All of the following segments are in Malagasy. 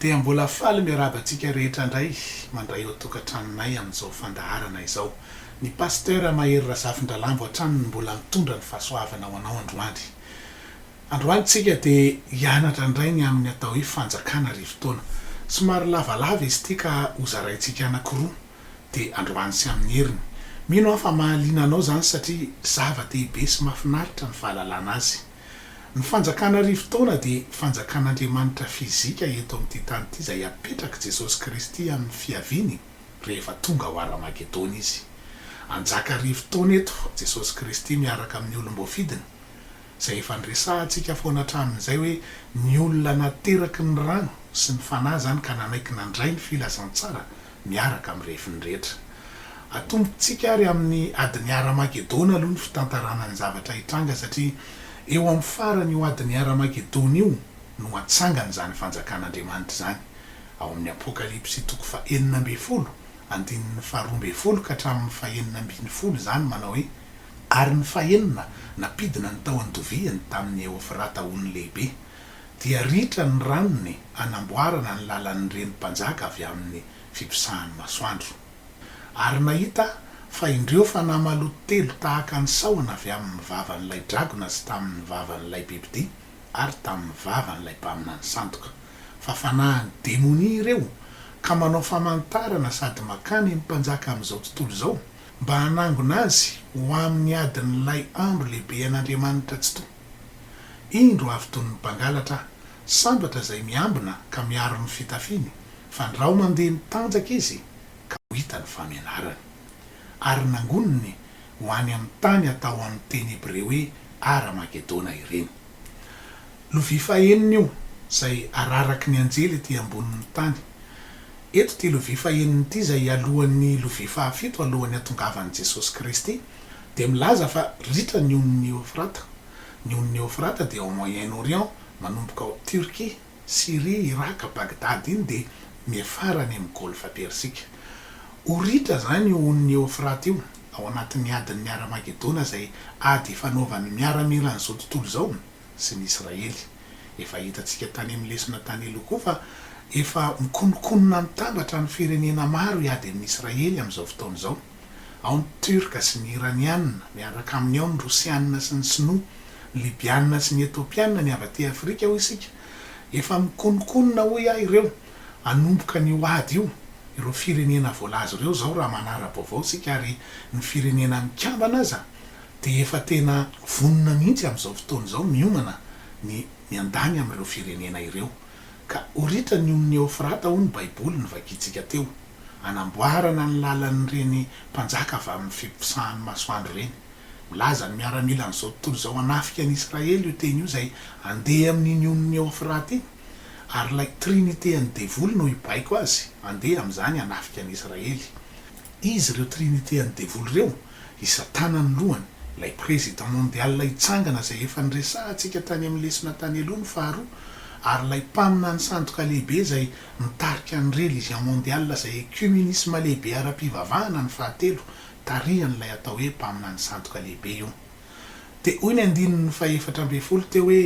Dia mbola faly miarahaba antsika rehetra indray mandray eo an-tokantranonay amin'izao fandaharana izao. Ny Pasteur Mahery Razafindralambo hatrany no mbola mitondra ny fahasoavana ho anao androany. Androany tsika dia hianatra indray ny amin'ny atao hoe fanjakana arivo taona. Somary lavalava izy ity ka ho zaraintsika anankiroa dia androany sy amin'ny heriny. Mino aho fa mahaliana anao izany satria zava-dehibe sy mahafinaritra ny fahalalana azy. Ny fanjakana arivo taona dia fanjakan'Andriamanitra fizika eto amin'ity tany ity izay hapetrak'i Jesosy Kristy amin'ny fiaviany rehefa tonga ao Armagedona Izy. Hanjaka arivo taona eto Jesosy Kristy miaraka amin'ny olom-boafidiny, izay efa niresahantsika foana hatramin'izay hoe ny olona nateraky ny rano sy ny Fanahy izany ka nanaiky nandray ny filazantsara miaraka amin'ny refiny rehetra. Atombontsika àry amin'ny adin'ny Hara-magedona aloha ny fitantarana ny zavatra hitranga, satria eo amin'ny faran'io adin'ny Hara-magedona io no hatsangan'izany Fanjakan'Andriamanitra izany. Ao amin'ny Apokalypsy toko fahenina ambin'ny folo, andininy faharoa ambin'ny folo ka hatramin'ny fahenina ambin'ny folo izany manao hoe, Ary ny fahenina nampidina ny tahon-doviany tamin'i Eofrata ony lehibe, dia ritra ny ranony hanamboarana ny lalan'ny reny mpanjaka avy amin'ny fiposahan'ny masoandro. Ary nahita aho fa indreo fanahy maloto telo tahaka ny sahona avy amin'ny vavan'ilay dragona sy tamin'ny vavan'ilay bibidia ary tamin'ny vavan'ilay mpaminany sandoka, fa fanahin'ny demonia ireo, ka manao famantarana sady makany ny mpanjaka amin'izao tontolo izao, mba hanangona azy ho amin'ny adin'ilay andro lehibe an'Andriamanitra Tsitoha. Indro avy tony ny mpangalatra sambatra izay miambina ka miaro ny fitafiny, fa ndrao mandeha mitanjaka izy ka ho hita ny famenarany. Ary nangoniny ho any amin'ny tany atao amin'ny teny hebreo hoe Hara-magedona ireny. Lovia fahenina io izay araraky ny anjely ety ambonin'ny tany. Eto ity lovia fahenina ity izay alohan'ny lovia fahafito alohan'ny hatongavan'i Jesosy Kristy dia milaza fa ritra ny onin'i Eofrata. Ny onin'i Eofrata dia ao Moyen Orient, manomboka ao Turquie, Syrie, Iraka, Bagdad iny dia miafara any amin'ny Golfa Persika. Ho ritra izany io onin'i Eofrata io ao anatin'ny adin'ny Haramagedona izay ady ifanaovan'ny miaramilan'izao tontolo izao sy ny Israely. Efa hitantsika tany amin'ny lesona tany aloha koa fa efa mikononkonona mitambatra ny firenena maro hiady amin'i Israely amin'izao fotoana izao. Ao ny Turka sy ny Iraniana, miaraka aminy ao ny Rosiana sy ny Sinoa, ny Libiana sy ny Etopiana, ny avy aty Afrika hoy isika. Efa mikononkonona hoy aho ireo hanomboka an'io ady io, ireo firenena voalaza ireo izao raha manara-baovao isika ary ny Firenena Mikambana aza dia efa tena vonona mihitsy amin'izao fotoana izao miomana ny miandany amin'ireo firenena ireo ka ho ritra ny ony Eofrata hoy ny Baiboly novakintsika teo. hanamboarana ny lalan'ireny mpanjaka avy amin'ny fiposahan'ny masoandro ireny. Milaza ny miaramila an'izao tontolo izao hanafika an'i Israely io teny io izay handeha amin'iny onin'i Eofrata iny, ary ilay trinite an'ny devoly no hibaiko azy handeha amin'izany hanafika an'i Israely. Iza ireo trinite an'ny devoly ireo? Hisatana ny lohany, ilay président mondial hitsangana izay efa niresahantsika tany amin'ny lesona tany aloha ny faharoa, ary ilay mpaminany sandoka lehibe izay mitarika ny religion mondiale izay ecumenisme lehibe ara-pivavahana ny fahatelo, tarihan'ilay atao hoe mpaminany sandoka lehibe io. Dia hoy ny andininy fahefatra ambin'ny folo teo hoe,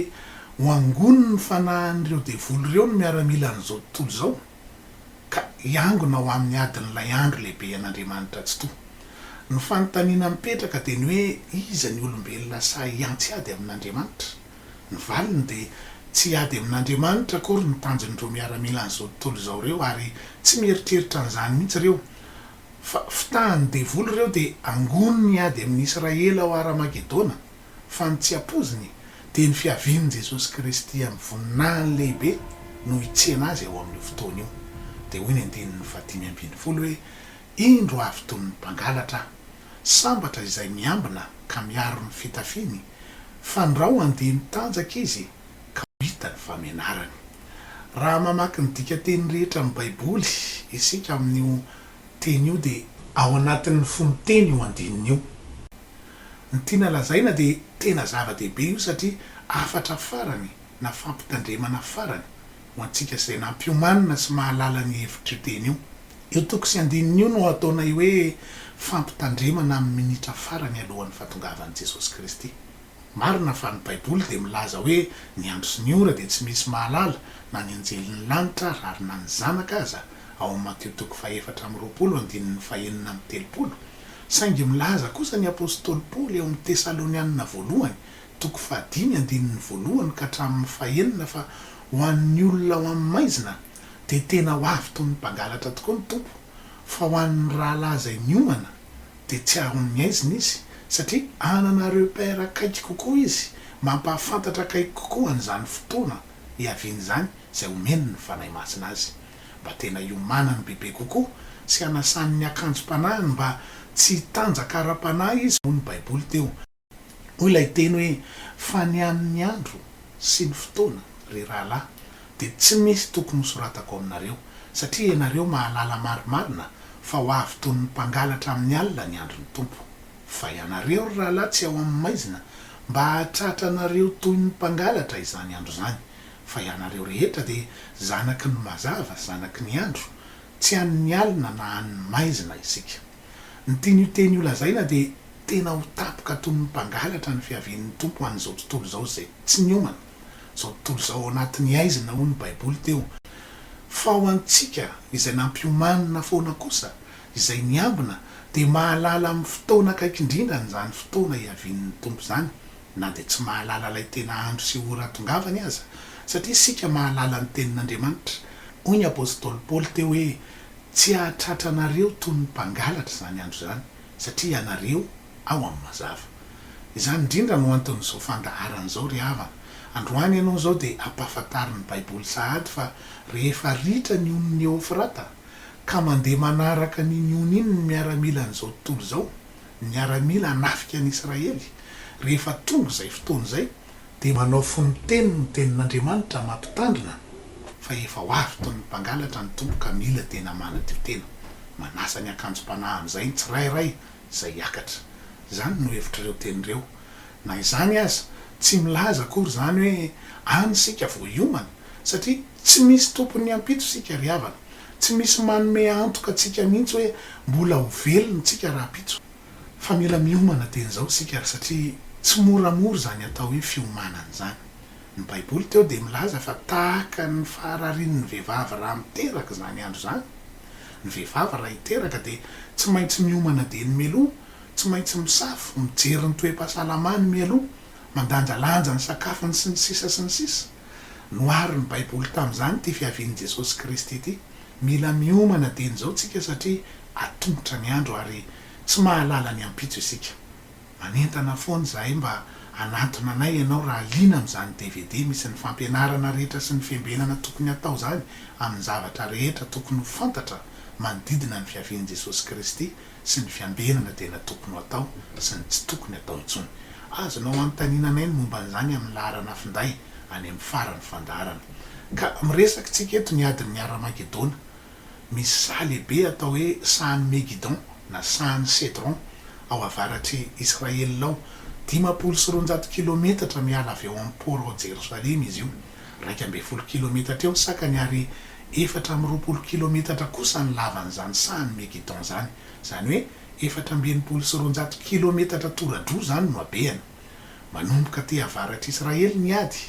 Ho angoniny ny fanahin'ireo devoly ireo ny miaramila an'izao tontolo izao. ka hiangona ho amin'ny adin'ilay andro lehibe an'Andriamanitra Tsitoha. Ny fanontaniana mipetraka dia ny hoe iza ny olombelona sahy hiantsy ady amin'Andriamanitra? Ny valiny dia, tsy hiady amin'Andriamanitra akory ny tanjon'ireo miaramilan'izao tontolo izao ireo ary tsy mieritreritra an'izany mihitsy ireo fa fitahan'ny devoly ireo dia angoniny hiady amin'i Israely ao Haramagedona. fa ny tsy ampoiziny dia ny fiavian'i Jesosy Kristy amin'ny voninahiny lehibe no hitsena azy ao amin'io fotoana io. Dia hoy ny andininy fahadimy ambin'ny folo hoe, Indro avy toy ny mpangalatra aho. Sambatra izay miambina ka miaro ny fitafiany, fandrao handeha mitanjaka izy ka ho hita ny famenarany. Raha mamaky ny dikanteny rehetra amin'ny Baiboly isika amin'io teny io dia. Ao anatin'ny fonontena io andininy io. Ny tiana lazaina dia tena zava-dehibe io satria hafatra farany na fampitandremana farany ho antsika izay nampiomanina sy mahalala ny hevitr'io teny io. Io toko sy andininy io no ataonay hoe fampitandremana amin'ny minitra farany alohan'ny fahatongavan'i Jesosy Kristy. Marina fa ny Baiboly dia milaza hoe ny andro sy ny ora dia tsy misy mahalala na ny anjelin'ny lanitra rary na ny zanaka aza, ao amin'ny Matio toko fahefatra amby roapolo andininy fahenina amby telopolo. Saingy milaza kosa ny apostoly Paoly ao amin'ny Tesalonianina Voalohany, toko fahadimy, andininy voalohany ka hatramin'ny fahenina fa ho an'ny olona ao amin'ny maizina dia tena ho avy toy ny mpangalatra tokoa ny Tompo, fa ho an'ny rahalahy izay miomana dia tsy hahaon'ny aizina izy, satria hanana repère akaiky kokoa izy, mampahafantatra akaiky kokoa an'izany fotoana hiaviany izany izay homeny ny Fanahy Masina azy. mba tena hiomanany bebe kokoa sy hanasany ny akanjom-panahiny mba tsy hitanjaka ara-panahy izy hoy ny Baiboly teo. Hoy ilay teny hoe, Fa ny amin'ny andro sy ny fotoana, ry rahalahy, dia tsy misy tokony hosoratako aminareo, satria ianareo mahalala marimarina fa ho avy toy ny mpangalatra amin'ny alina ny andron'ny Tompo. Fa ianareo, ry rahalahy, tsy ao amin'ny maizina, mba hahatratranareo toy ny mpangalatra izany andro izany. fa ianareo rehetra dia zanaky ny mazava, zanaky ny andro, tsy an' ny alina na an' ny maizina isika. Ny tian' io teny io lazaina dia tena ho tampoka toy ny mpangalatra ny fiavian' ny Tompo ho an' izao tontolo izao izay tsy niomana, izao tontolo izao ao anatin' ny aizina hoy ny Baiboly teo, fa ho antsika izay nampiomanina foana kosa, izay niambina, dia mahalala amin' ny fotoana akaiky indrindra an' izany fotoana hiavian' ny Tompo izany. na dia tsy mahalala ilay tena andro sy ora atongavany aza, satria isika mahalala ny Tenin'Andriamanitra. Hoy ny apostoly Paoly teo hoe, Tsy hahatratra anareo toy ny mpangalatra izany andro izany, satria ianareo ao amin'ny mazava. Izany indrindra no anton'izao fandaharana izao, ry havana. Androany ianao izao dia ampahafantarin'ny Baiboly sahady fa rehefa ritra ny onin'i Eofrata, ka mandeha manaraka an'iny ony iny ny miaramilan'izao tontolo izao, miaramila hanafika an'i Israely, rehefa tonga izay fotoana izay, dia manao fononteny ny Tenin'Andriamanitra mampitandrina fa efa ho avy toy ny mpangalatra ny Tompo ka mila tena manadio tena. Manasa ny akanjom-panahy amin'izay ny tsirairay izay hiakatra. Izany no hevitr'ireo teny ireo. Na izany aza, tsy milaza akory izany hoe any isika vao hiomana, satria Tsy misy tompon'ny ampitso isika ry havana. Tsy misy manome antoka antsika mihitsy hoe mbola ho velona isika rahampitso. Fa mila miomana dieny izao isika ary satria tsy moramora izany atao hoe fiomanana izany. Ny Baiboly teo dia milaza fa tahaka ny fahararian'ny vehivavy raha miteraka izany andro izany. Ny vehivavy raha hiteraka dia tsy maintsy miomana dieny mialoha, tsy maintsy misafo, mijery ny toe-pahasalamany mialoha, mandanjalanja ny sakafony sy ny sisa sy ny sisa. Noharin'ny Baiboly tamin'izany ity fiavian'i Jesosy Kristy ity. Mila miomana dieny izao isika satria atomotra ny andro ary tsy mahalala ny ampitso isika. Manentana foana izahay mba hanantona anay ianao raha liana amin'izany dvd misy ny fampianarana rehetra sy ny fiambenana tokony hatao izany amin'ny zavatra rehetra tokony ho fantatra manodidina ny fiavian'i Jesosy Kristy sy ny fiambenana tena tokony ho atao sy ny tsy tokony atao intsony. Azonao anontaninanay ny momba an'izany amin'ny laharana finday any amin'ny faran'ny fandaharana. Ka miresaka isika eto ny adin'ny Haramagedona. Misy saha lehibe atao hoe sahan'i Megidon na sahan'i Cedron ao avaratr'i Israel ao. Dimampolo sy roanjato kilometatra miala avy ao amin'ny port ao Jerosalema izy io. Iraika ambin'ny folo kilometatra eo ny sakany ary efatra amby roapolo kilometatra kosa ny lavan'izany sahan'i Megiddon izany. Izany hoe efatra amby enimpolo sy roanjato kilometatra tora-droa izany no habehany. Manomboka aty avaratr'Israely ny ady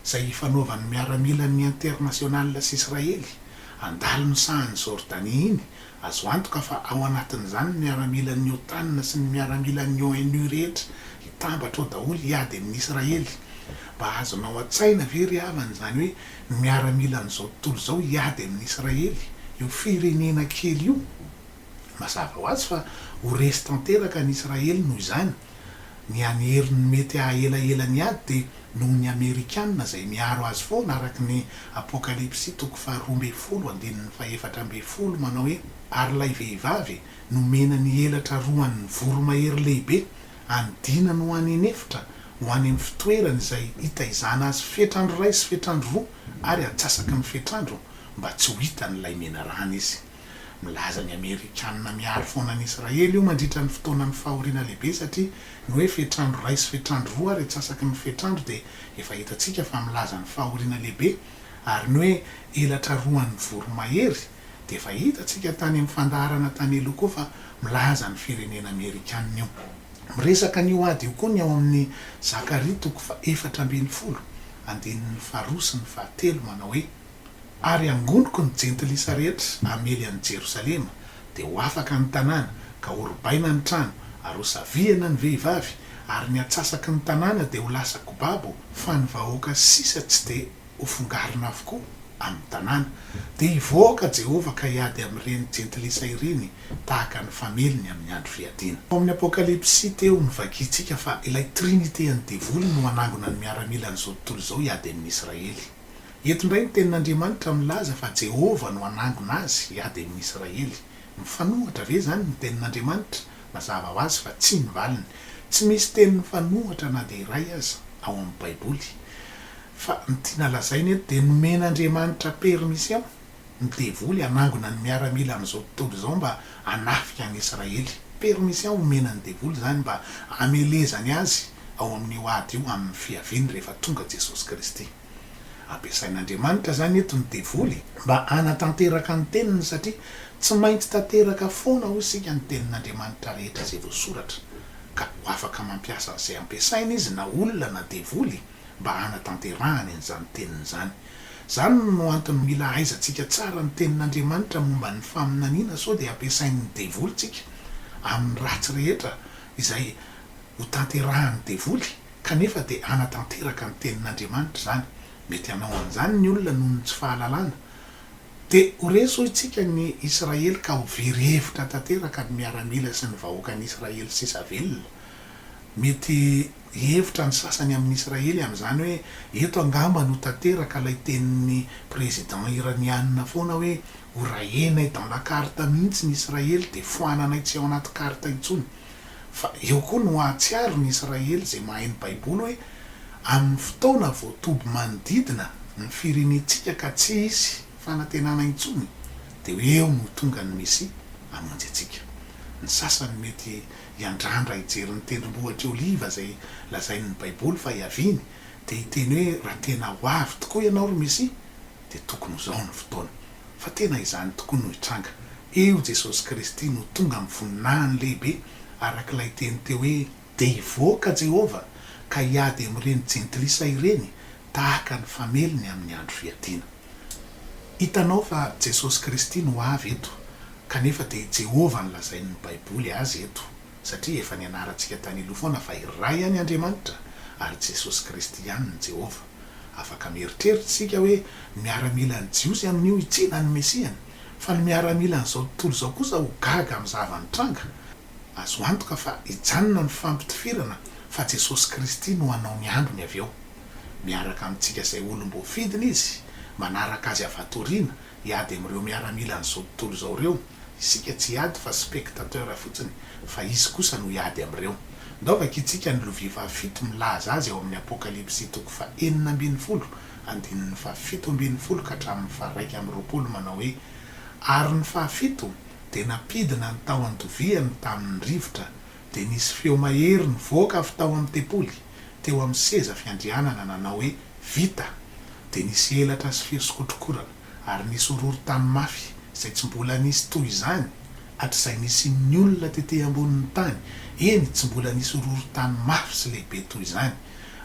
izay ifanaovan'ny miaramilan'ny Internationale sy Israely, handalo ny sahan'i Jordanie iny Azo antoka fa ao anatin'izany ny miaramilan'ny OTAN sy ny miaramilan'ny ONU rehetra hitambatra ao daholo hiady amin'i Israely. Mba azonao an-tsaina ve ry havana izany hoe ny miaramilan'izao tontolo izao hiady amin'i Israely, io firenena kely io? Mazava ho azy fa ho resy tanteraka an'i Israely noho izany. Ny any heriny mety hahahela ela ny ady dia noho ny Amerikana izay miaro azy foana araka ny Apokalypsy toko faharoa ambin'ny folo andininy fahefatra ambin'ny folo manao hoe Ary ilay vehivavy nomena ny elatra roa an'ny voromahery lehibe any dinany ho any inefitra ho any amin'ny fitoerany izay hitaizana azy fetrandro iray sy fetrandro roa ary atsasaky ny fetrandro mba tsy ho hitan'ilay menarana izy. Milaza ny Amerikanina miaro foana an'i Israely io mandritra ny fotoanan'ny fahoriana lehibe satria ny hoe fetr'andro iray sy fetr'andro roa ary atsasaky ny fetr'andro dia efa hitantsika fa milaza ny fahoriana lehibe ary ny hoe elatra roa an'ny voromahery dia efa hitantsika tany amin'ny fandaharana tany aloha koa fa milaza ny firenena Amerikanina io. Miresaka an'io ady io koa ny ao amin'ny Zakaria toko faha efatra ambin'ny folo, andininy faharoa sy ny fahatelo manao hoe. Ary hangoniko ny jentilisa rehetra hamely an'i Jerosalema, dia ho afaka ny tanàna, ka horobaina ny trano, ary ho savihana ny vehivavy, ary ny atsasaky ny tanàna dia ho lasa kobabo, fa ny vahoaka sisa tsy dia hofongarina avokoa amin'ny tanàna. Dia hivoaka Jehovah ka hiady amin'ireny jentilisa ireny tahaka ny fameliny amin'ny andro fiadiana. Tao amin'ny Apokalypsy teo, novakintsika fa ilay trinite an'ny Devoly no hanangona ny miaramila an'izao tontolo izao hiady amin'i Israely. Eto indray ny Tenin'Andriamanitra milaza fa Jehovah no hanangona azy hiady amin'ny Israely. Mifanohitra ve izany ny Tenin'Andriamanitra? Mazava ho azy fa tsia ny valiny. Tsy misy teny mifanohitra na dia iray aza ao amin'ny Baiboly. Fa ny tiana lazaina eto dia nomen'Andriamanitra permission ny devoly hanangona ny miaramila amin'izao tontolo izao mba hanafika an'i Israely. Permission omena ny devoly izany mba hamelezany azy ao amin'io ady io amin'ny fiaviany rehefa tonga Jesosy Kristy. Ampiasain'Andriamanitra izany eto ny devoly mba hanatanteraka ny teniny satria tsy maintsy tanteraka foana hoy isika ny tenin'Andriamanitra rehetra izay voasoratra ka ho afaka mampiasa an'izay ampiasaina izy na olona na devoly mba hanatanterahany an'izany teniny izany. Izany no antony mila ahaizantsika tsara ny tenin'Andriamanitra momba ny faminaniana sao dia ampiasain'ny devoly tsika amin'ny ratsy rehetra izay ho tanterahan'ny devoly. Kanefa dia hanatanteraka ny tenin'Andriamanitra izany. Mety hanao an'izany ny olona noho ny tsy fahalalana. Dia ho resy hoy isika ny Israely ka ho very hevitra tanteraka ny miaramila sy ny vahoakan'i Israely sisa velona. Mety hihevitra ny sasany amin'ny Israely amin'izany hoe eto angamba no tanteraka ilay tenin'ny président Iraniana foana hoe horahenay dans la carte mihitsy ny Israely dia foananay tsy ao anaty carte intsony. Fa eo koa no hahatsiaro ny Israely izay mahay ny Baiboly hoe amin'ny fotoana vao toby manodidina ny firenentsika ka tsy hisy fanantenana intsony, dia eo no tonga ny Mesia hamonjy antsika. Ny sasany mety hiandrandra hijery ny Tendrombohitr'i Oliva izay lazain'ny Baiboly fa hiaviany, dia hiteny hoe, Raha tena ho avy tokoa ianao ry Mesia, dia tokony ho zao ny fotoana fa tena izany tokoa no hitranga, eo Jesosy Kristy no tonga amin'ny voninahiny lehibe araka ilay teny teo hoe, Dia hivoaka Jehovah ka hiady amin'ireny jentilisa ireny tahaka ny famelony amin'ny andro fiadiana. Hitanao fa Jesosy Kristy no avy eto kanefa dia i Jehovah no lazain'ny Baiboly azy eto satria efa nianarantsika tany aloha foana fa iray ihany Andriamanitra ary Jesosy Kristy ihany ny Jehovah. Afaka mieritreritra isika hoe ny miaramilan'ny Jiosy amin'io i Tsena no Mesiany. Fa ny miaramilan'izao tontolo izao kosa ho gaga amin'ny zava-nitranga. Azo antoka fa hijanona ny fampitifirana fa Jesosy Kristy no hanao ny androny avy eo. Miaraka amintsika izay olom-boafidiny Izy, manaraka Azy avy hatoriana, Hiady amin'ireo miaramilan'izao tontolo izao ireo, isika tsy hiady fa spectateurs fotsiny, fa Izy kosa no hiady amin'ireo. Ndao vakintsika ny lovia fahafito milaza azy ao amin'ny Apokalypsy toko fahenina ambin'ny folo, andininy fahafito ambin'ny folo ka hatramin'ny faharaika amby roapolo manao hoe, Ary ny fahafito dia nampidina ny tahon-doviany tamin'ny rivotra, dia nisy feo mahery nivoaka avy tao amin'ny tempoly, teo amin'ny seza fiandrianana nanao hoe, Vita! Dia nisy elatra sy feo sokotrokorana, ary nisy horohorontany mafy izay tsy mbola nisy toy izany hatrizay nisian'ny olona tety ambonin'ny tany, eny, tsy mbola nisy horohorontany mafy sy lehibe toy izany.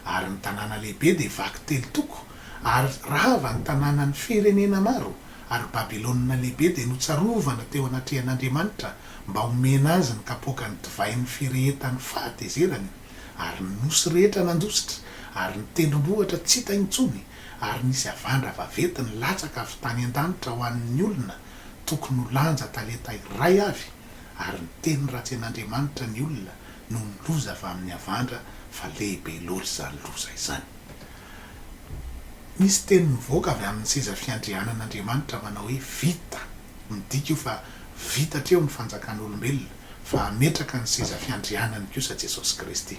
Ary ny tanàna lehibe dia vaky telo toko, ary rava ny tanànan'ny firenena maro, ary Babylona Lehibe dia notsarovana teo anatrehan'Andriamanitra mba homena azy ny kapoakan'ny divain'ny firehetan'ny fahatezerany, ary ny nosy rehetra nandositra, ary ny tendrombohitra tsy hita intsony, ary nisy havandra vavety nilatsaka avy tany an-danitra ho an'ny olona, tokony ho lanja talenta iray avy, ary niteny ratsy an'Andriamanitra ny olona noho ny loza avy amin'ny havandra, fa lehibe loatra izany loza izany. Nisy teny nivoaka avy amin'ny seza fiandrianan'Andriamanitra manao hoe, Vita! Midika io fa vita hatreo ny fanjakan'olombelona, fa hametraka ny seza fiandrianany kosa Jesosy Kristy.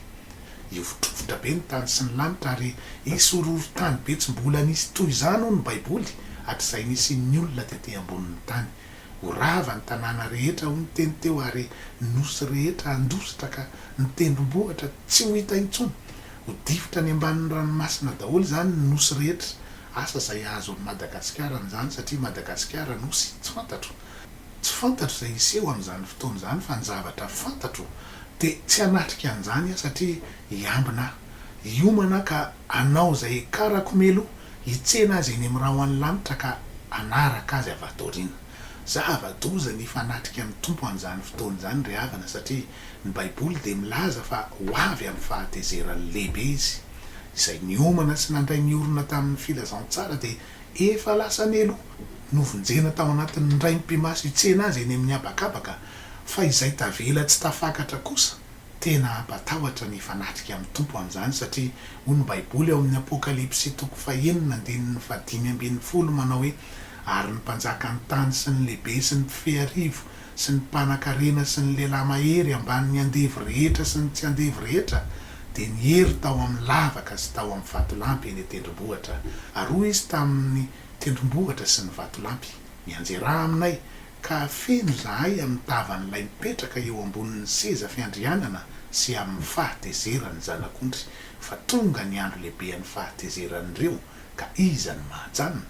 Hihovitrovitra be ny tany sy ny lanitra ary hisy horohorontany be tsy mbola nisy toy izany hoy ny Baiboly hatrizay nisian'ny olona tety ambonin'ny tany. Ho rava ny tanàna rehetra hoy ny teny teo ary ny nosy rehetra handositra ka ny tendrombohitra tsy ho hita intsony. Ho difotra any ambanin'ny ranomasina daholo izany ny nosy rehetra Asa izay azo amin'i Madagasikara amin'izany satria Madagasikara nosy tsy fantatro. Tsy fantatro izay hiseho amin'izany fotoana izany fa ny zavatra fantatro dia tsy hanatrika an'izany aho satria hiambina aho. Hiomana aho ka hanao izay hiakarako meloha hitsena azy eny amin'ny rahon'ny lanitra ka hanaraka azy avy ato aoriana. Zava-doza ny hifanatrika amin'ny Tompo amin'izany fotoana izany ry havana satria Ny Baiboly dia milaza fa ho avy amin'ny fahatezeran'ny lehibe izy. Izay niomana sy nandray ny orina tamin'ny filazantsara dia efa lasa nelo. Novonjena tao anatin'ny raim-pimaso hitsena azy eny amin'ny habakabaka, fa izay tavela tsy tafakatra kosa. Tena hampatahotra ny hifanatrika amin'ny Tompo amin'izany, satria hoy ny Baiboly ao amin'ny Apokalypsy toko fahenina andininy fahadimy ambin'ny folo manao hoe, Ary ny mpanjakan'ny tany sy ny lehibe sy ny mpifehy arivo sy ny mpanakarena sy ny lehilahy mahery ambany ny andevo rehetra sy ny tsy andevo rehetra dia niery tao amin'ny lavaka sy tao amin'ny vatolampy eny an-tendrombohitra ary hoy izy tamin'ny tendrombohitra sy ny vatolampy mianjera aminay ka hafeno izahay amin'ny tavan'ilay mipetraka eo ambonin'ny seza fiandrianana sy amin'ny fahatezeran'ny zanak'ondry fa tonga ny andro lehibean'ny fahatezeran'ireo Ka iza no mahajanona?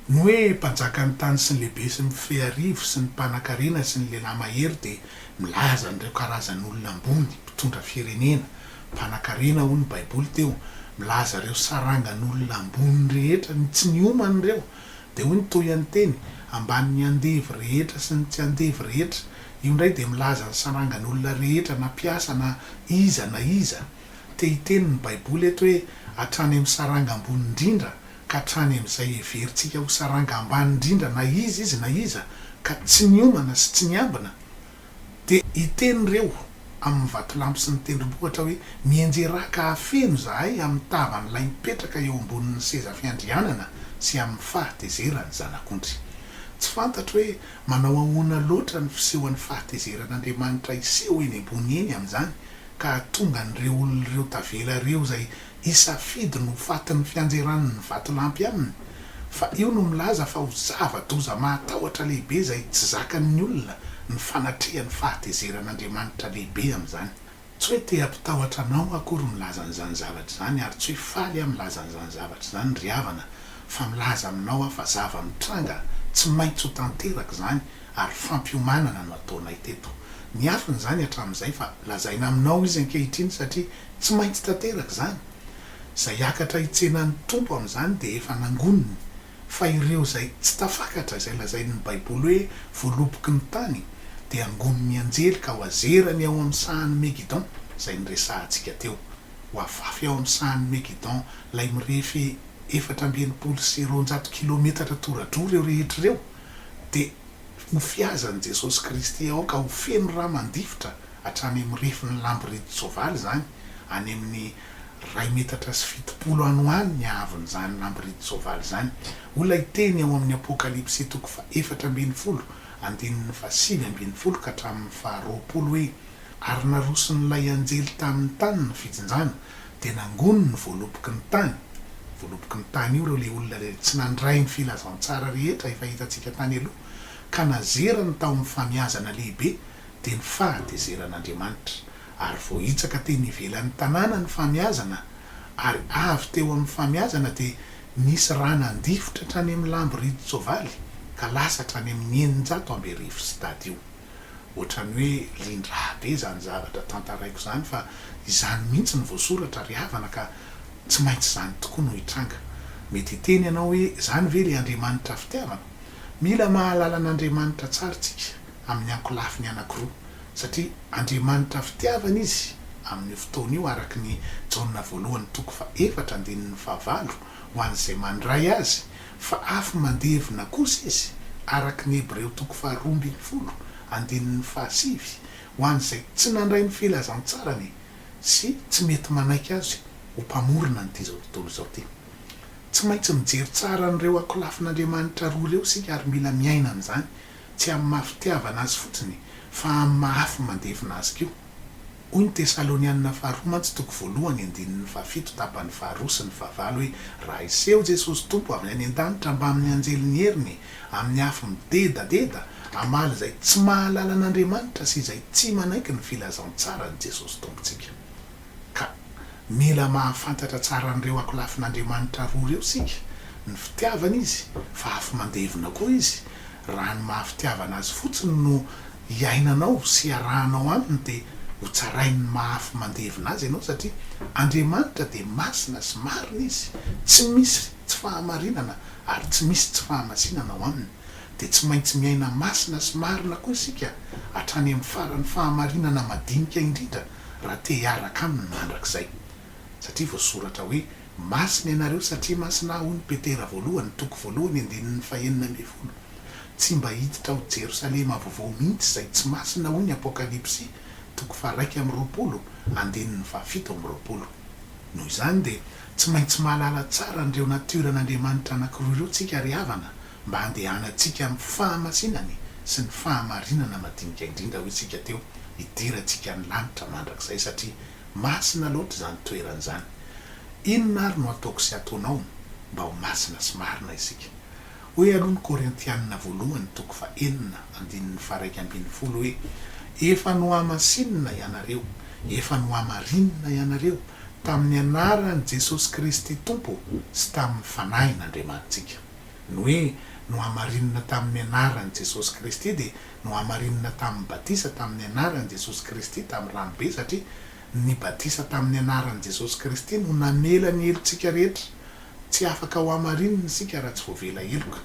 Ny hoe mpanjakan'ny tany sy ny lehibe sy ny mifehy arivo sy ny mpanankarena sy ny lehilahy mahery dia milaza an'ireo karazan'olona ambony, mpitondra firenena, mpanankarena hoy ny baiboly teo, milaza ireo sarangan'olona ambony rehetra, ny tsy niomana ireo, dia hoy ny tohianteny, ambanin'ny andevo rehetra sy ny tsy andevo rehetra, io indray dia milaza ny sarangan'olona rehetra na mpiasa na iza na iza. Te hiteny ny Baiboly eto hoe hatrany amin'ny saranga ambony indrindra ka hatrany amin'izay heverintsika ho saranga ambany indrindra na iza izy na iza ka tsy niomana sy tsy niambina dia hiteny ireo amin'ny vatolampy sy ny tendrombohitra hoe mienjerà ka afeno izahay amin'ny tavan'ilay mipetraka eo ambonin'ny seza fiandrianana sy amin'ny fahatezeran'ny Zanak'ondry. Tsy fantatro hoe manao ahoana loatra ny fisehoan'ny fahatezeran'Andriamanitra hiseho eny ambony eny amin'izany ka hahatonga an'ireo olona ireo tavela ireo izay hisafidy ny ho fatin'ny fianjeran'ny vatolampy aminy, fa io no milaza fa ho zava-doza mahatahotra lehibe izay tsy zakan'ny olona ny fanatrehany fahatezeran'Andriamanitra lehibe amin'izany. Tsy hoe te hampitahotra anao akory milaza an'izany zavatra izany, ary tsy hoe faly aho milaza an'izany zavatra izany, ry havana, fa milaza aminao aho fa zava-mitranga tsy maintsy ho tanteraka izany, ary fampiomanana no ataonay teto. Niafina izany hatramin'izay fa lazaina aminao izy ankehitriny satria tsy maintsy tanteraka izany. Izay hiakatra hitsena ny Tompo amin'izany dia efa nangoniny. Fa ireo izay tsy tafakatra izay lazain'ny Baiboly hoe voaloboky ny tany dia angonin'ny anjely ka hoazerany ao amin'ny sahan'i Megidon, izay niresahantsika teo. Hoavafy ao amin'ny sahan'i Megidon ilay mirefy efatra amby enimpolo sy roanjato kilometatra tora-droa ireo rehetra ireo. dia ho fihazan'i Jesosy Kristy aoka ho feno ra mandifitra hatrany amin'ny refin'ny lambiridin-tsoavaly izany, any amin'ny iray metatra sy fitopolo any ho any ny haavon'izany lambiridin-tsoavaly izany, hoy ilay teny ao amin'ny Apokalypsy toko fahefatra ambin'ny folo andininy fahasivy ambin'ny folo ka hatramin'ny faharoapolo hoe, Ary naroson'ilay anjely tamin'ny tany ny fijinjana, dia nangono ny voaloboky ny tany, voaloboky ny tany io ireo ilay olona rehetra tsy nandray ny filazantsara rehetra efa hitantsika tany aloha ka nazerany tao amin'ny famiazana lehibe dia ny fahatezeran'Andriamanitra ary voahitsaka teny ivelan'ny tanàna ny famiazana ary avy teo amin'ny famiazana dia nisy rà nandifotra hatrany amin'ny lambo ridin-tsoavaly ka lasa hatrany amin'ny eninjato amby arivo stadio. Ohatran'ny hoe lindraha be izany zavatra tantaraiko izany fa izany mihitsy no voasoratra ry havana ka tsy maintsy izany tokoa no hitranga. Mety hiteny ianao hoe izany ve ilay Andriamanitra fitiavana? Mila mahalala an'Andriamanitra tsara isika amin'ny ankolafiny anankiroa satria Andriamanitra fitiavana Izy amin'io fotoana io araka ny Jaona voalohany toko faha efatra andininy faha valo ho an'izay mandray Azy Fa afo mandevona kosa izy, araka ny Hebreo toko faharoa ambin'ny folo, andininy fahasivy, ho an'izay tsy nandray ny filazantsarany sy tsy mety manaiky Azy ho Mpamorona an'ity izao tontolo izao ity. Tsy maintsy mijery tsara an'ireo akolafin'Andriamanitra roa ireo isika ary mila miaina an'izany, tsy amin'ny maha-fitiavana Azy fotsiny, fa amin'ny maha-afo mandevona Azy koa. Hoy ny Tesalonianina Faharoa mantsy toko voalohany andininy fahafito tapany faharoa sy ny fahavalo hoe, Raha hiseho Jesosy Tompo avy any an-danitra mbamin'ny anjelin'ny heriny amin'ny afo midedadeda, hamaly izay tsy mahalala an'Andriamanitra sy izay tsy manaiky ny filazantsaran'i Jesosy Tompontsika. Ka mila mahafantatra tsara an'ireo akolafin'Andriamanitra roa ireo isika, ny fitiavany Izy, fa afo mandevona koa Izy, Raha ny maha fitiavana azy fotsiny no iainanao sy iarahanao aminy dia ho tsarain'ny mahafy mandevina azy ianao satria Andriamanitra dia masina sy marina izy, tsy misy tsy fahamarinana ary tsy misy tsy fahamasinana ao aminy. Dia tsy maintsy miaina masina sy marina koa isika hatrany amin'ny faran'ny fahamarinana madinika indrindra raha te hiaraka aminy mandrakizay. satria voasoratra hoe, Masina ianareo satria masina Aho, hoy ny Petera voalohany, toko voalohany, andininy fahenina ambin'ny folo. Tsy mba hiditra ao Jerosalema Vaovao mihitsy izay tsy masina, hoy ny Apokalypsy, toko faharaika amby roapolo, andininy fahafito amby roapolo. Noho izany dia tsy maintsy mahalala tsara an'ireo natior'an'Andriamanitra anankiroa ireo isika ry havana mba handehanantsika amin'ny fahamasinany sy ny fahamarinana madinika indrindra hoy isika teo hidirantsika ny lanitra mandrakizay satria Masina loatra izany toerana izany. Inona ary no ataoko sy ataonao mba ho masina sy marina isika? Hoy aloha ny Korintianina voalohany toko fahenina andininy faharaika ambin'ny folo hoe, Efa nohamasinina ianareo, efa nohamarinina ianareo, tamin'ny anaran'i Jesosy Kristy Tompo sy tamin'ny Fanahin' Andriamanitsika. Ny hoe nohamarinina tamin'ny anaran'i Jesosy Kristy dia Nohamarinina tamin'ny batisa tamin'ny anaran'i Jesosy Kristy tamin'ny ranobe satria ny batisa tamin'ny anaran'i Jesosy Kristy no namela ny helotsika rehetra. Tsy afaka hohamarinina isika raha tsy voavela heloka.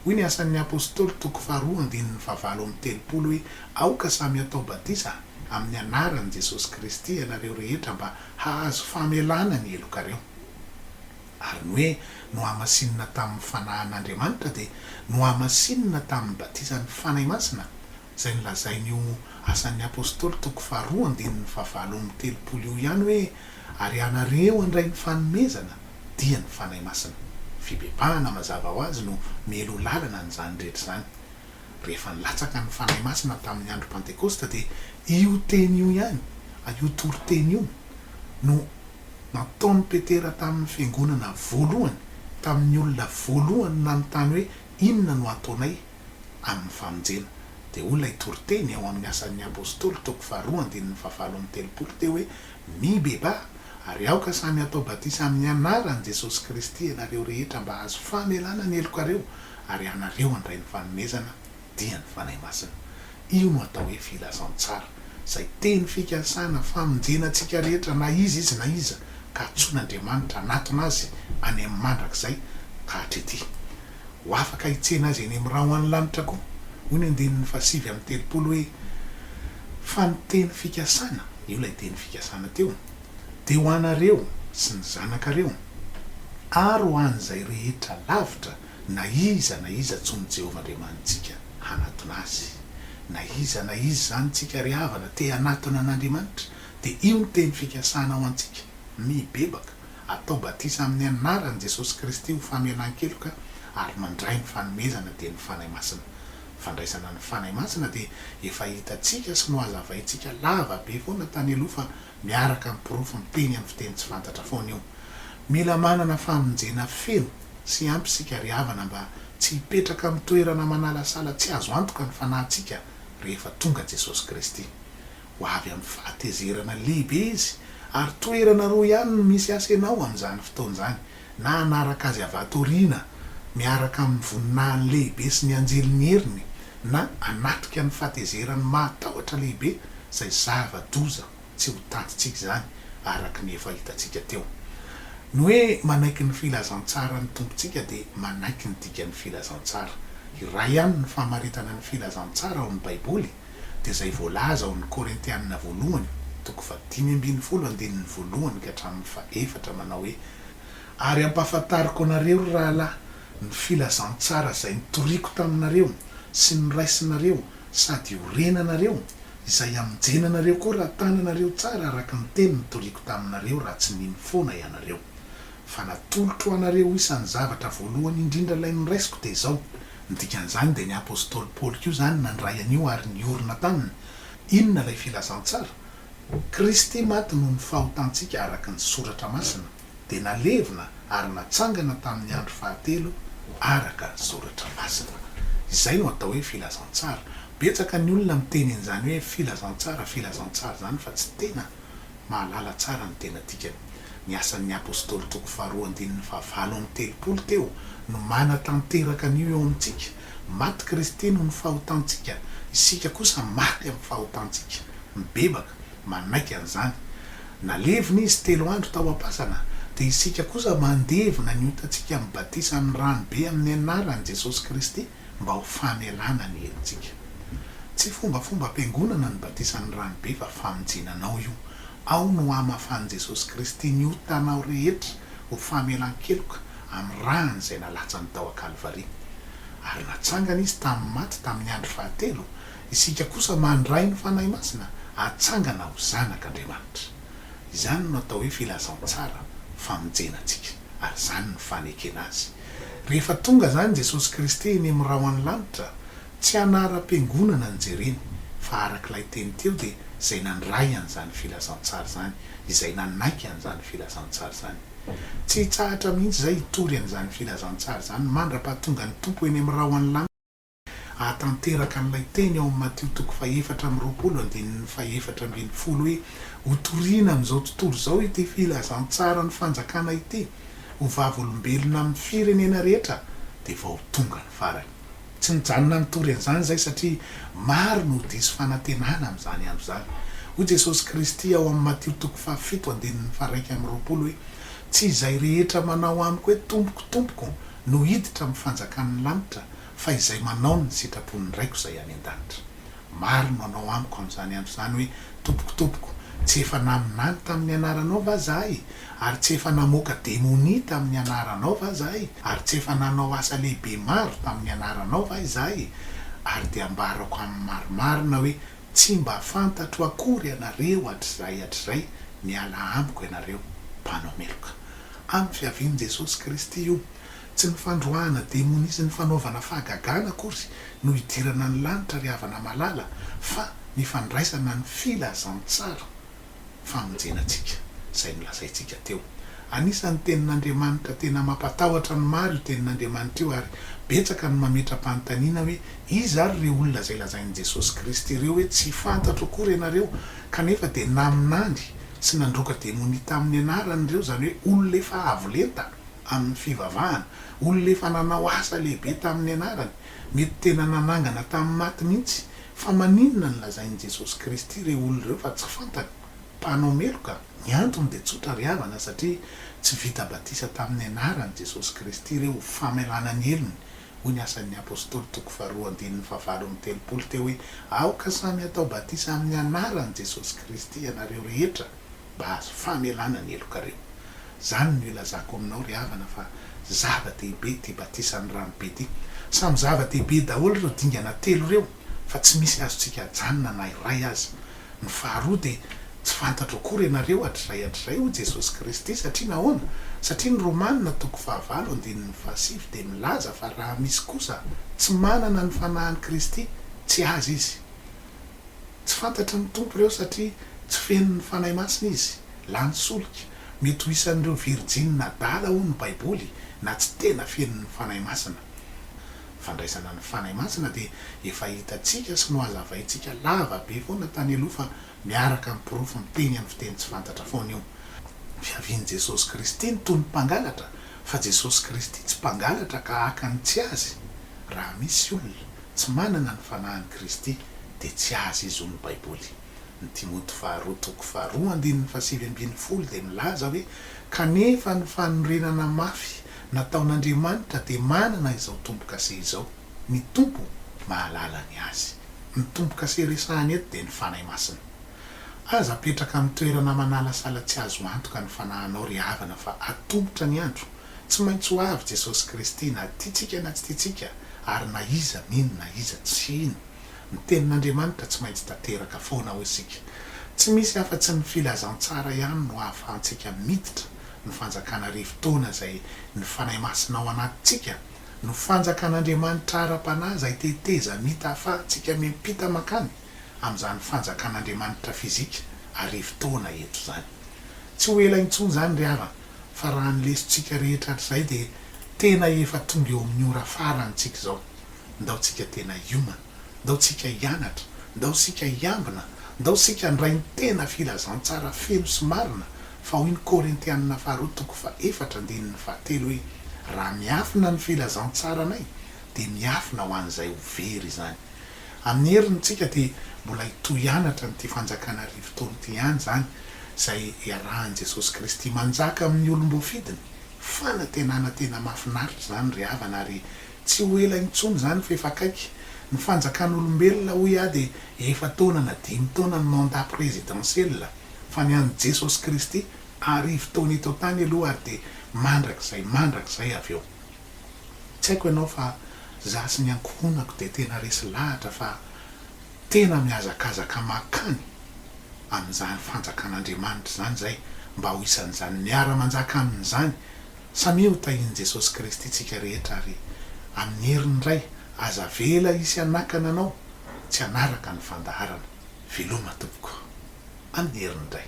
Hoy ny Asan'ny Apostoly toko faharoa andininy fahavalo amby telopolo hoe aoka samy hatao batisa amin'ny anaran'i Jesosy Kristy ianareo rehetra mba hahazo famelana ny helokareo. Ary ny hoe nohamasinina tamin'ny Fanahin'Andriamanitra dia nohamasinina tamin'ny batisan'ny Fanahy Masina, izay nolazain'io Asan'ny Apostoly toko faharoa andininy fahavalo amby telopolo io ihany hoe, Ary ianareo handray ny fanomezana, dia ny Fanahy Masina. Fibebahana mazava ho azy no mialoha lalana an'izany rehetra izany. Rehefa nilatsaka ny Fanahy Masina tamin'ny andro Pantekosta dia io teny io ihany, io toriteny io no. nataon'i Petera tamin'ny fiangonana voalohany, tamin'ny olona voalohany nanontany hoe inona no hataonay amin'ny famonjena. Dia hoy ilay toriteny ao amin'ny Asan'ny Apostoly, toko faharoa andininy fahavalo amby telopolo, teo hoe, Mibebaha, ary aoka samy hatao batisa amin'ny anaran'i Jesosy Kristy ianareo rehetra mba hahazo famelana ny helokareo, ary ianareo handray ny fanomezana dia ny Fanahy Masina. Io no atao hoe filazantsara, izay teny fikasana famonjena antsika rehetra na iza izy na iza ka antsoin'Andriamanitra hanatona azy any amin'ny mandrakizay ka hatrety ho afaka hitsena azy eny amin'ny ra ho any lanitra koa. Hoy ny andininy fahasivy amby telopolo hoe, Fa ny teny fikasana, io ilay teny fikasana teo, dia ho anareo sy ny zanakareo ary ho an'izay rehetra lavitra Na iza na iza antsoin'i Jehovah Andriamanitsika hanatona azy. Na iza na iza izany tsika ry havana te hanatona an'Andriamanitra, dia io ny teny fikasana ho antsika, Mibebaka, atao batisa amin'ny anaran'i Jesosy Kristy ho famelan-keloka ary mandray ny fanomezana dia ny Fanahy Masina. Fandraisana ny Fanahy Masina dia efa hitantsika sy nohazavaintsika lava be foana tany aloha fa miaraka amin'ny porofo miteny amin'ny fiteny tsy fantatra foana io. Mila manana famonjena feno sy ampy isika ry havana mba tsy hipetraka amin'ny toerana manalasala tsy azo antoka ny fanahintsika rehefa tonga Jesosy Kristy. Ho avy amin'ny fahatezerana lehibe Izy ary toerana roa ihany no misy asenao amin'izany fotoana izany, na hanaraka azy avy ato aoriana miaraka amin'ny voninahiny lehibe sy ny anjeliny heriny, na hanatrika ny fahatezerany mahatahotra lehibe, izay zava-doza tsy ho tantintsika izany, araka ny efa hitantsika teo. Ny hoe manaiky ny filazantsaran'ny Tompontsika dia manaiky ny dikan'ny filazantsara. Iray ihany ny famaritana ny filazantsara ao amin'ny Baiboly. dia izay voalaza ao amin'ny Korintianina voalohany toko fahadimy ambin'ny folo andininy voalohany ka hatramin'ny fahefatra manao hoe, Ary ampahafantariko anareo, ry rahalahy, ny filazantsara izay nitoriako taminareo sy noraisinareo sady iorenanareo, izay hamonjenanareo koa raha tananareo tsara araka ny teny nitoriako taminareo raha tsy nino foana ianareo. fa natolotro anareo isan'ny zavatra voalohany indrindra ilay noraisiko dia izao, ny dikan'izany dia ny Apostoly Paoly koa izany nandray an'io ary niorina taminy, inona ilay filazantsara? Kristy maty noho ny fahotantsika araka ny soratra masina, dia nalevina ary natsangana tamin'ny andro fahatelo araka ny soratra masina. Izay no atao hoe filazantsara. Betsaka ny olona miteny an'izany hoe filazantsara, filazantsara izany fa tsy tena. Mahalala tsara ny tena dikany. Ny Asan'ny Apostoly toko faharoa andininy fahavalo amby telopolo teo no manatanteraka an'io eo amintsika, Maty Kristy noho ny fahotantsika, isika kosa maty amin'ny fahotantsika. Mibebaka, manaiky an'izany. Nalevina Izy telo andro tao am-pasana, dia isika kosa mandevina ny otantsika amin'ny batisa amin'ny ranobe amin'ny Anaran'i Jesosy Kristy. mba ho famelana ny helotsika. Tsy fombafombam-piangonana ny batisan'ny ranobe fa famonjena anao io. Ao no hamafan'i Jesosy Kristy ny otanao rehetra ho famelan-keloka amin'ny rany izay nalatsany tao an-Kalvary. Ary natsangana Izy tamin'ny maty tamin'ny andro fahatelo, isika kosa mandray ny Fanahy Masina hatsangana ho zanak'Andriamanitra. Izany no atao hoe filazantsara famonjena antsika. ary izany no fanekena azy. Rehefa tonga izany Jesosy Kristy eny amin'ny rahon'ny lanitra, tsy anaram-piangonana no jereny, fa araka ilay teny teo dia izay nandray an'izany filazantsara izany, izay nanaiky an'izany filazantsara izany. Tsy hitsahatra mihitsy izay hitory an'izany filazantsara izany mandra-pahatongan'ny Tompo eny amin'ny rahon'ny lanitra. Hahatanteraka an'ilay teny ao amin'ny Matio toko fahefatra amby roapolo andininy fahefatra ambin'ny folo hoe, Ho toriana amin'izao tontolo izao ity filazantsaran'ny Fanjakana ity, ho vavolombelona amin'ny firenena rehetra, dia vao tonga ny farany. Tsy nijanona nitory an'izany izay satria maro no ho diso fanantenana amin'izany andro izany. Hoy Jesosy Kristy ao amin'ny Matio toko fahafito andininy faharaika amby roapolo hoe, Tsy izay rehetra manao amiko hoe, Tompoko, Tompoko, no hiditra amin'ny fanjakan'ny lanitra fa izay manao ny sitrapon'ny Raiko izay any an-danitra. Maro no hanao amiko amin'izany andro izany hoe, Tompoko, Tompoko, tsy efa naminany tamin'ny anaranao va izahay? Ary tsy efa namoaka demonia tamin'ny anaranao va izahay? Ary tsy efa nanao asa lehibe maro tamin'ny anaranao va izahay? Ary dia ambarako amin'ny marimarina hoe, Tsy mba fantatro akory ianareo hatrizay hatrizay, miala amiko ianareo, mpanao meloka. Amin'ny fiavian'i Jesosy Kristy io. Tsy ny fandroahana demonia sy ny fanaovana fahagagana akory no hidirana ny lanitra ry havana malala fa ny fandraisana ny filazantsara famonjena antsika izay nolazaintsika teo. Anisan'ny tenin'Andriamanitra tena mampatahotra ny maro io tenin'Andriamanitra io ary betsaka no mametra-panontaniana hoe iza ary ireo olona izay lazain'i Jesosy Kristy ireo hoe tsy fantatro akory ianareo kanefa dia naminany Tsy nandroaka demonia tamin'ny anarany ireo, izany hoe olona efa avo lenta amin'ny fivavahana, olona efa nanao asa lehibe tamin'ny anarany, mety tena nanangana tamin'ny maty mihitsy. Fa maninona no lazain'i Jesosy Kristy ireo olona ireo fa tsy fantany? Mpanao meloka? Ny antony dia tsotra ry havana, satria tsy vita batisa tamin'ny anaran'i Jesosy Kristy ireo ho famelana ny helony Hoy ny Asan'ny Apostoly toko faharoa andininy fahavalo amby telopolo teo hoe, Aoka samy hatao batisa amin'ny anaran'i Jesosy Kristy ianareo rehetra mba hahazo famelana ny helokareo. Izany no ilazako aminao ry havana fa zava-dehibe ity batisan'ny rano be ity. Samy zava-dehibe daholo ireo dingana telo ireo fa tsy misy azontsika ajanona na iray aza. Ny faharoa dia tsy fantatro akory ianareo hatrizay hatrizay, hoy Jesosy Kristy. Satria nahoana? Satria ny Romana toko fahavalo andininy fahasivy dia milaza fa raha misy kosa tsy manana ny fanahin'i Kristy, tsy azy izy. Tsy fantatry ny Tompo ireo satria tsy feno ny Fanahy Masina izy. Lany solika. Mety ho isan'ireo virjiny nadala hoy ny Baiboly na tsy tena feno ny Fanahy Masina. fandraisana ny Fanahy Masina dia efa hitantsika sy nohazavaintsika lava be foana tany aloha fa miaraka amin'ny porofo miteny amin'ny fiteny tsy fantatra foana io. Fiavian'i Jesosy Kristy no toy ny mpangalatra fa Jesosy Kristy tsy mpangalatra ka haka ny tsy Azy. Raha misy olona tsy manana ny Fanahin'i Kristy dia tsy Azy izy hoy ny Baiboly. Ny Timoty faharoa toko faharoa andininy fahasivy ambin'ny folo dia milaza hoe, Kanefa ny fanorenana mafy nataon'Andriamanitra dia manana izao tombo-kase izao, Ny Tompo mahalala ny azy. Ny tombo-kase resahina eto dia ny Fanahy Masina. Aza apetraka amin'ny toerana manalasala tsy azo antoka ny fanahinao ry havana fa atomotra ny andro, tsy maintsy ho avy Jesosy Kristy na tiantsika na tsy tiantsika ary na iza mino na iza tsy hino. Ny Tenin'Andriamanitra tsy maintsy tanteraka foana hoy isika. Tsy misy afa-tsy ny filazantsara ihany no ahafahantsika miditra ny fanjakana arivo taona izay ny Fanahy Masina ao anatintsika no fanjakan'Andriamanitra ara-panahy izay tetezamita ahafahantsika miampita mankany amin'izany fanjakan'Andriamanitra fizika arivo taona eto izany. Tsy ho ela intsony izany ry havana fa raha ny lesontsika rehetra hatrizay dia tena efa tonga eo amin'ny ora farany tsika izao. Ndao tsika tena hiomana, ndao tsika hianatra, ndao sika hiambina, ndao sika handray ny tena filazantsara feno sy marina, fa hoy ny Korintianina faharoa toko fahefatra andininy fahatelo hoe, Raha miafina ny filazantsaranay, dia miafina ho an'izay ho very izany. Amin'ny heriny tsika dia mbola hitohy hianatra an'ity fanjakana arivo taona ity ihany izany, izay hiarahan'i Jesosy Kristy manjaka amin'ny olom-boafidiny. Fanantenana tena mahafinaritra izany ry havana ary Tsy ho ela intsony izany fa efa akaiky. Ny fanjakan'olombelona hoy aho dia efa-taona na dimy taona ny mandat présidentiel, fa ny an'i Jesosy Kristy arivo taona eto an-tany aloha ary dia mandrakizay mandrakizay avy eo. Tsy haiko ianao fa izaho sy ny ankohonako dia tena resy lahatra fa tena mihazakazaka mankany amin'izany fanjakan'Andriamanitra izany izay mba ho isan'izany miara-manjaka aminy izany, Samia ho tahin'i Jesosy Kristy tsika rehetra ary amin'ny herin'ny Ray aza avela hisy hanakana anao tsy hanaraka ny fandaharana. Veloma tompoko. Amin'ny herin'ny Ray.